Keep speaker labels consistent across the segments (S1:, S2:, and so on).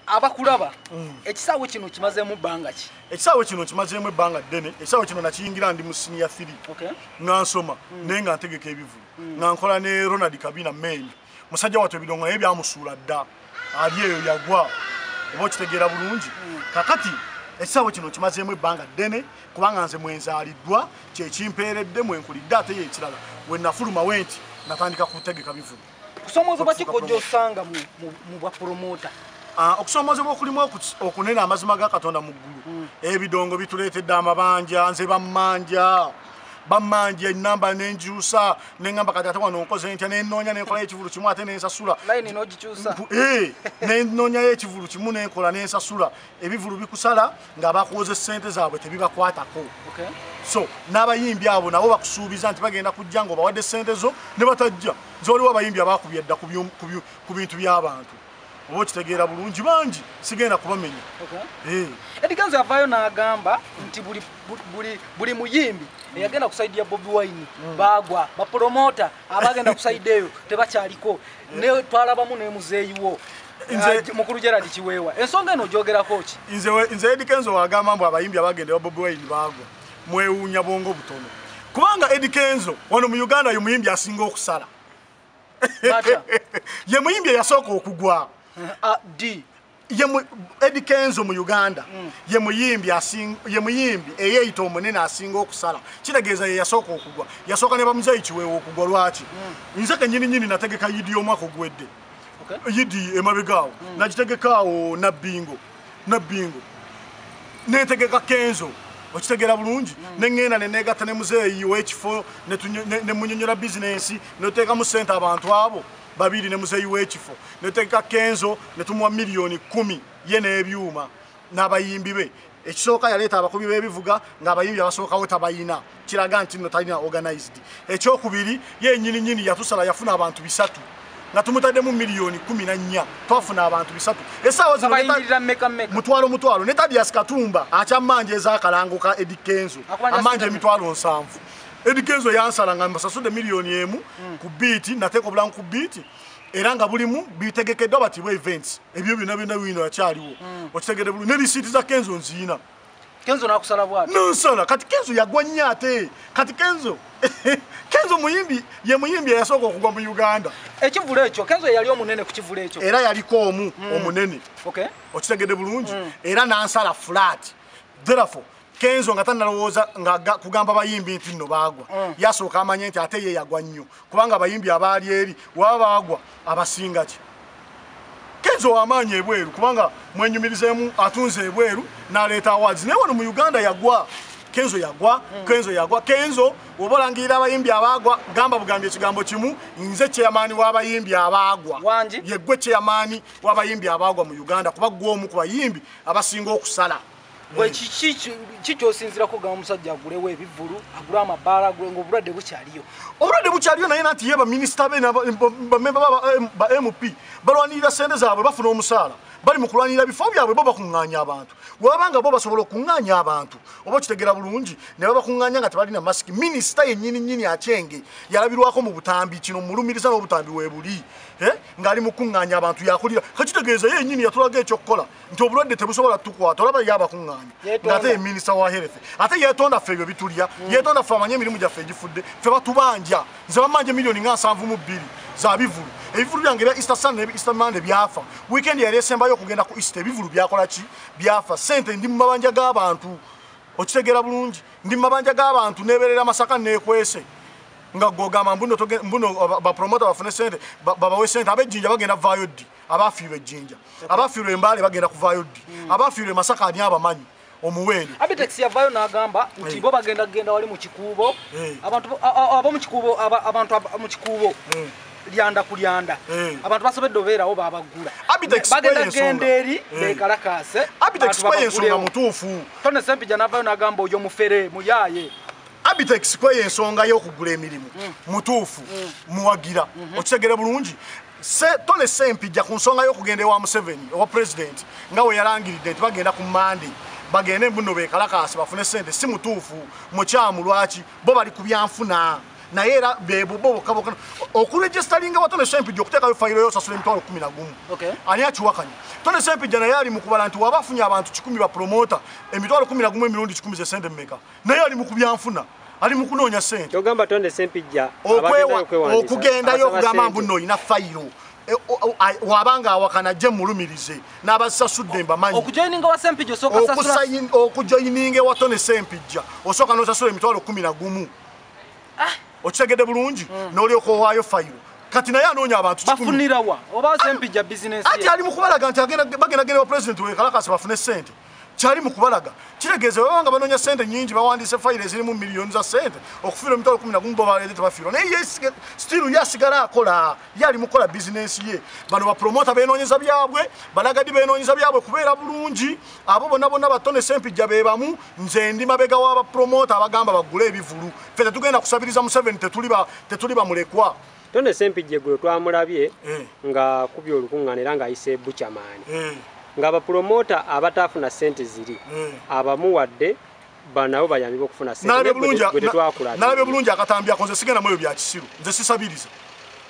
S1: abakulaba mm. ekisaawe kino kimazeemu bbanga ki ekisaawe kino kimazeemu
S2: ebbanga ddene ekisaawe kino nakiyingira ndi mu siniya thiri nga nsoma mm. naye nga ntegeka ebivulu mm. nga nkola ne ronald kabina main musajja wattu ebidongo naye byamusuula dda ali eyo yagwa oba okitegeera bulungi kakati ekisaawe kino kimazeemu ebbanga ddene kubanga nze mwenzaaliddwa kyekimpeeredde mwenkulidde ate yekirala wenafulumawe nti natandika kutegeka bivulu kusoomoozebwa ki kojja
S1: osanga mu bwa promota ah, okusoomoozebwa
S2: okulimu okunene amazima ga katonda mu ggulu hmm. ebidongo bituleetedde amabanja nze bammanja bamanja enamba nenjusa nengamba kati ate wano nkoze ntya nenoonya nenkola ekivulu kimu ate nensasula
S1: nenonyayo
S2: ekivulu kimu nenkola nensasula ebivulu bikusala nga bakuwoze sente zaabwe tebibakwatako so n'abayimbi abo nabo bakusuubiza nti bagenda kujja nga obawadde sente zo ne batajja nze waliwo abayimbi abakubya dda ku bintu by'abantu oba okitegeera bulungi bangi sigenda kubamenya eh.
S1: ediganzi avaayo n'agamba nti buli muyimbi eyagenda ku saidi ya bobi wine mm. bagwa bapulomota abagenda kusaide eyo tebakyaliko ne twalabamu ne muzeeyi wo ah, mukulu gerald kiweewa ensonga eno ogyogerako ki nze edi kenzo
S2: wagamba mbu abayimbi abagenda babobi wayini baagwa mwewuunya bwongo obutono kubanga edi kenzo wano mu uganda ye muyimbi asinga okusala ye muyimbi eyasooka okugwa ah, ah, Eddie Kenzo mu Uganda mm. ye muyimbi asing ye muyimbi eyeyita omunene asinga okusala kitegeeza ye yasooka okugwa yasooka ne bamuzeeyi kiweewo okugwa lwaki mm. nze kenyini nyini nategeka yidi y'omwaka ogwedde okay. yidi emabega awo mm. nagitegeka awo nabbingo nabbingo netegeka Kenzo okitegera bulungi mm. neŋŋenda ne neegatta ne muzeeyi w'ekifo ne munyonyola bizinensi ne tuteekamu ssente abantu abo babiri ne muzeyi w'ekifo ne tutegeka kenzo ne tumuwa miliyoni kumi ye n'ebyuma n'abayimbi be ekisooka yaleeta abakubi b'ebivuga ng'abayimbi abasookawo tabayina kiraga nti nno talina organized ekyokubiri yenyini nyini yatusala yafuna abantu bisatu nga tumutaddemu miliyoni kumi na nnya twafuna abantu bisatu esaawa zinomutwalo mutwalo ne tadias katumba akyamanja ezakalango ka edikenzo amanja emitwalo nsanvu Eddie Kenzo yansala nga mbasasude million emu mm. ku beat nateka obulamu ku beat era nga bulimu bitegekeddwa bati bwe events ebyo byonna byonna wino akyaliwo mm. okitegede bulu ne receipt za Kenzo nziyina Kenzo nakusala
S1: bwati no nsala kati Kenzo
S2: yagwa nnyo ate kati Kenzo Kenzo muyimbi ye muyimbi yasooka okugwa mu Uganda ekivule ekyo Kenzo
S1: yali omunene ku kivule ekyo era yaliko omu mm.
S2: omunene okay okitegede bulungi mm. era nansala flat therefore kenzo nga tanalowooza nga kugamba bayimbi nti nno baagwa mm. yasooka amanye nti ate ye yagwa nnyo kubanga abayimbi abaali eri waba baagwa abasinga ki kenzo wamaanyi ebweru kubanga mwenyumirizeemu atunze ebweru naleeta awards naye wano mu uganda yagwa kenzo yagwa mm. kenzo yagwa kenzo oba olangirira abayimbi abaagwa gamba bugambye ekigambo kimu nze kyeyamaani w'abayimbi abaagwa yeggwe kyeyamaani w'abayimbi abaagwa mu uganda kuba gwomu ku bayimbi abasinga okusala gwe kiki
S1: ki kyosinzirako gamba musajja agulewo ebivulu agule amabaala agule ngaobulwadde bukyaliyo obulwadde bukyaliyo
S2: naye nanti ye baminisita be bamemba ba eh, mp balwanirira sente zaabwe bafuna omusaala bali mu kulwanirira bifo byabwe bo bakuŋŋaanya abantu waba nga bo basobola okuŋŋaanya abantu oba okitegera bulungi ne babakuŋŋaanya nga tebalina masiki minisita yennyini nnyini akyenge yalabirwako mu butambi kino mulumiriza n'obutambi weebuli eh, ng'ali mu kuŋŋaanya abantu yakulira kakitegeeza ye yennyini yatulaga ekyokukola nti obulwadde tebusobola tukwata olaba ye abakuŋŋaanya ng'ate ye minisita wa health ate yeetonda ffe ebyo bitulya mm. yeetonda ffe amanye emirimu gyaffe egifudde ffe batubanja nze bamanja emiliyoni nga nsanvu mu bbiri za bivulu ebivulu byange ebya easter sunday ne easter monday byafa weekend yali esembayo okugenda ku easter ebivulu byakola ki byafa sente ndi mu mabanja g'abantu okitegeera bulungi ndi mu mabanja g'abantu neeberera masaka neekwese nga gwogamba mbuno bapromota bafune sente babawe sente abejjinja bagenda vaayo ddi abafiirwa ejjinja abafiirwa embaale bagenda kuvaayo ddi hmm. abafiirwa emasaka ani abamanyi omuweene abitex yavayo
S1: nagamba nti eh. bo bagenda kugenda wali mukikuubo eh. abantu abo mukikuubo abantu mukikuubo eh. lyanda kulyanda abantu basobedde obeerawo babaggula bagenda genda eri bekalakaase abitexensonga
S2: mutuufu tone sempija navayo
S1: nagamba oyo mufere muyaye abitex
S2: kweyo ensonga yokugula emirimu hmm. mutuufu hmm. muwagira okitegere bulungi tole sempijja ku nsonga y'okugenda ewa museveni owa pulezidenti nga we yalangiridde nti bagenda ku mande bagende mbuno bekalakaasi bafune sente si mutuufu mukyamu lwaki bo bali ku byanfuna naye era bebo bo bokka bokka okuregisteringa wa tone sempijja okuteekayo fayiro yosasula emitwalo kumi na gumu ani akiwakanya tone sempijja naye ali mu kubala nti waba afunye abantu kikumi bapulomota emitwalo kumi na gumu emirundi kikumi ze sente mumeka naye ali mu kubyanfuna ali mu kunoonya sente ogamba tonde sempijja okugendayo okugamba mbu noolina fayiro e, waba nga awakana gye mulumirize n'abasasudde mbamanyi
S1: okujoyininga
S2: ewato ne sempijja osooka n'osasula emitwalo kumi na gumu ah. okitegedde bulungi hmm. n'olyoka owaayo fayiro kati naye anoonya abantu kikumi
S1: ati ali mu kubalaga nti
S2: bagendagenda wa pulezidenti wekalakasi bafune sente kyali mu kubalaga kitegeeza baba nga banoonya sente nyingi bawandiise fayiro ezirimu miliyoni za sente okufiira emitwalo kumi nagumu bo baleete tebafiirwa naye ye stiru ye asigala akola ye ali mukola bizinensi ye bano bapromota benoonyeza byabwe balagadi benoonyeza byabwe kubeera bulungi abo bona bona batone sempijja be bamu nze ndi mabega w'abapromota abagamba bagule ebivulu fe tetugenda kusabiriza museveni tetuli bamulekwa ba Tone Ssempijja
S3: eggulo twamulabye eh. nga kubye olukuŋŋaana era ng'ayise bucamaani eh. ng'abapulomoota abataafuna ssente ziri eh. abamuwadde banabo bayambibwa okufuna sentenalabe
S2: bulungi akatambi akoze sigenda mu ebyo bya kisiru nze sisabiriza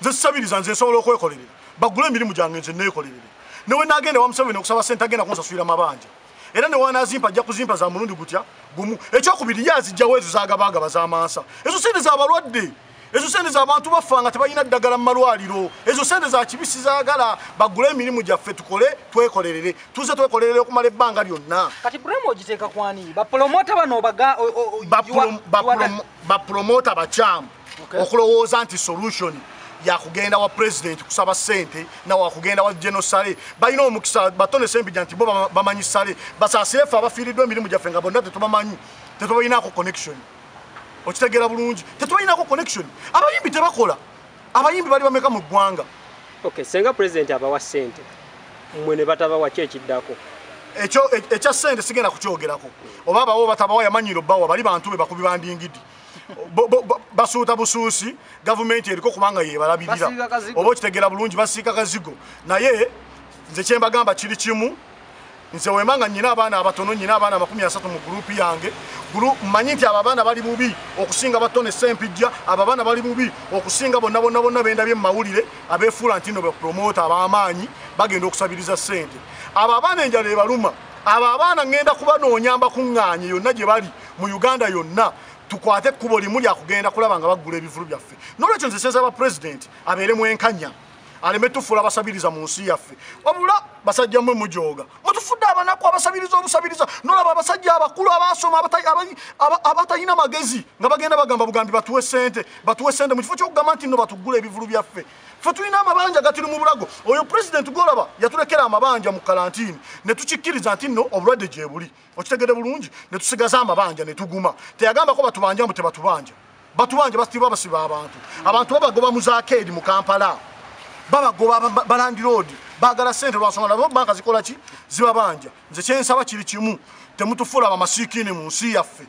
S2: nze sisabiriza nze nsobola okwekolerera bagule emirimu gyange nze neekolerere newe nagenda wa museveni okusaba sente agenda kunsasulira mabanja era newanazimpa ajja kuzimpa za mulundi gutya gumu ekyokubiri ye azijjawo ezo zagabagaba zamansa ezo sente zabalwadde ezo sente zabantu baffa nga tebalina ddagala mu malwaliro ezo sente zakibi sizagala bagule emirimu gyaffe tukole twekolerere tuze twekolerere okumala ebbanga lyonna bapulomota bakyamu okulowooza nti solution yakugenda wa president kusaba sente nawe akugenda wa geno sale balina omukisa batone sempija nti bo bamanyi sale basasire ffe abafiiriddwa emirimu gyaffe nga bonna tetubamanyi tetubalinako connection okitegera bulungi tetubalinako connection abayimbi tebakola abayimbi bali bameka mu ggwanga okay senga
S3: president abawa sente mwe ne batabawa ki ekiddako ekyo e,
S2: ekya sente sigenda kukyogerako oba abawo batabawa yamanyiro bawa bali bantu be bakubi bandingidi basuuta busuusi gavumenti eriko kubanga yebalabirira oba okitegera bulungi basiika kazigo naye nze kyembagamba kiri kimu nze wema nga nyina abaana abatono nyina abaana amakumi asatu mu gurupu yange manyi nti abo abaana bali bubi okusinga batone sempijja abo abaana bali bubi okusinga bonna bonna bonna bendabye mu mawulire abefuula nti no bapromota abamaanyi bagenda okusabiriza sente abo abaana enjala ebaluma abo abaana ŋŋenda kubanoonya mbakuŋŋaanye yonna gye bali mu uganda yonna tukwate ekkubo limu lyakugenda kulaba nga baggula ebivulu byaffe nolwekyo nze sensaba pulezidenti abeere mwenkanya aleme tufuula abasabiriza mu nsi yaffe wabula basajja mwe mujooga mutufudde abanaku abasabiriza obusabiriza nolaba abasajja abakulu abasoma abatalina magezi nga bagenda bagamba bugambi batuwe sente batuwe sente mu kifo kyokugamba nti no batugula ebivulu byaffe fe tulina amabanja gatiri mu bulago oyo pulezidenti gwolaba yatulekera amabanja mu kalantini ne tukikkiriza nti no obulwadde gyebuli okitegede bulungi netusigaza amabanja netuguma teyagambako batubanja mbu tebatubanja batubanja basitibwa basiba abantu abantu babagoba mu zakeedi mu kampala babagoba balandi road bagala sente lwansonga nabo banka zikola ki zibabanja nze kyensaba kiri kimu temutufuula bamasikiini mu nsi yaffe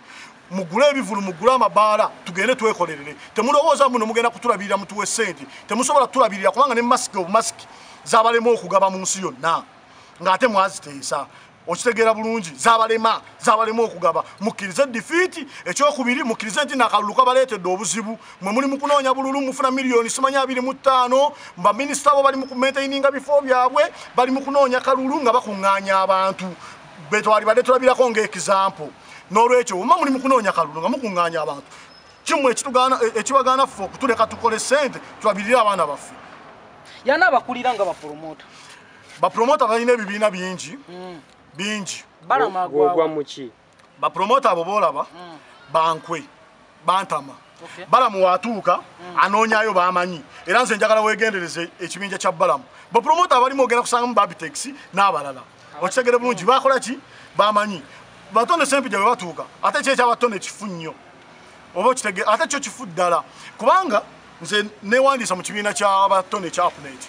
S2: mugule ebivulu mugule amabaala tugende twekolerere temulowooza muno mugenda kutulabirira mutuwe sente temusobola kutulabirira kubanga ne masiki obumasiki zabalema okugaba mu nsi yonna ng'ate mwaziteesa okitegera bulungi zabalema zabalema okugaba mukirize defeat ekyokubiri mukirize nti nakalulu kabaleetedde obuzibu mwe muli mukunoonya bululu mufuna miliyoni simanya abiri mu ttaano mba minisita bo bali mu kumaintaininga bifo byabwe bali mu kunoonya kalulu nga bakuŋŋaanya abantu betwalibadde tulabirako ngaekizampo n'olwekyo uma muli mu kunoonya kalulu nga mukuŋŋaanya abantu kimu e, ekibagaana ffe okutuleka tukole sente tulabirire abaana baffe yana
S1: abakulira nga bapolomota
S2: bapromota balina ebibiina bingi mm. bingi balamagwa
S3: muki bapromota abo
S2: boolaba mm. bankwe bantama balamu watuuka mm. anoonyayo bamanyi era nze njagala wegendereze ekibinja kya balamu bapromota abalimu ogenda kusangamu babitex n'abalala okitegere bulungi bakola ki bamanyi batone sempi gyawe batuuka ate kyekyabatone kifu nnyo oba okitegere ate kyo kifu ddala kubanga nze newandiisa mu kibiina kyabato ne kyapunet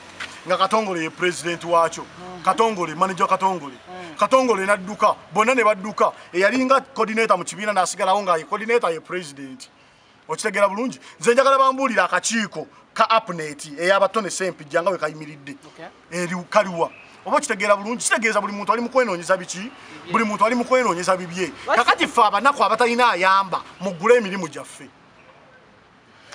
S2: nga katongole ye pulezidenti waakyo mhm. katongole manaja katongole mhm. katongole nadduka bonna ne badduka eyalinga kodinata mu kibiina nasigalawo nga ye kodinata ye pulezidenti okitegera bulungi nze njagala bambuulira akakiiko ka apnet eyabato ne sempijja nga we kayimiridde eri kaliwa oba okitegeera bulungi kitegeeza buli muntu ali mukwenoonyeza biki buli muntu ali mukwenoonyeza bibye kakati ffe abanaku abatalina ayamba muggule emirimu gyaffe